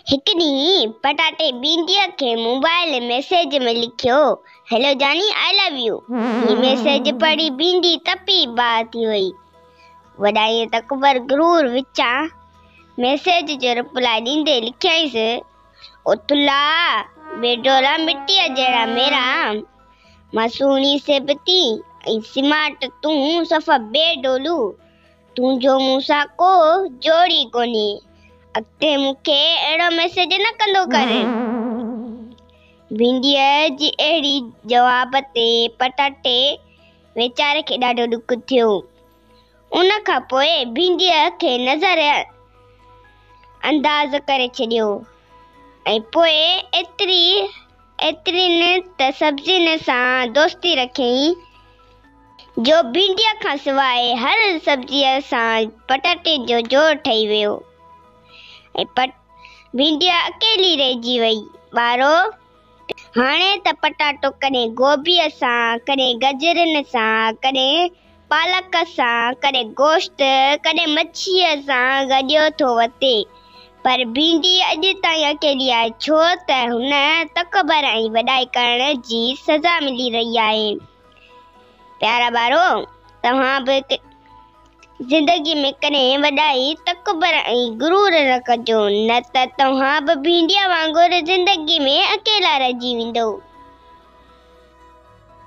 هڪ ڏينهن پٽاٽي بينديء کي موبائيل ميسيج ۾ لکيو، هيلو جاني آء لو يو. هي ميسيج پڙهي بيندي تپي باهه ٿي وئي. وڏائيء تڪبر غرور وچان ميسيج جو رپلاء ڏيندي لکيائينس، او ٿلها بي ڊولا مٽيء جهڙا ميرا، مان سهڻي سيبتي ۽ سمارٽ تون صفا بي ڊولو. تنهنجو مون سان ڪو جوڙ ئي ڪونهي. اڳتي مون کي اهڙو ميسيج نه ڪندو ڪر. ڀينڊيء جي اهڙي جواب تي پٽاٽي ويچاري کي ڏاڍو ڏک ٿيو. ان کان پوء ڀينڊيء کي نظر انداز ڪري ڇڏيو ۽ پوء ايتري ايترين ته سبزين سان دوستي رکيائين. جو ڀينڊيء کان سواء هر سبزيء سان پٽاٽي جو جوڙ ٺهي ويو ۽ پٽ ڀينڊيء اڪيلي رهجي وئي. ٻارو! هاڻي ته پٽاٽو ڪڏهن گوبيء سان، ڪڏهن گجرن سان، ڪڏهن پالڪ سان، ڪڏهن گوشت، ڪڏهن مڇيء سان گڏيو ٿو وتي، پر ڀينڊي اڄ تائين اڪيلي آهي، ڇو ته هن تڪبر ۽ وڏائي ڪرڻ جي سزا ملي رهي آهي. پيارا ٻارو توهان به زندگي ۾ ڪڏهن وڏائي تڪبر ۽ غرور نه ڪجو نه ته توهان به ڀينڊيا وانگر زندگي ۾ اڪيلا رهجي ويندو.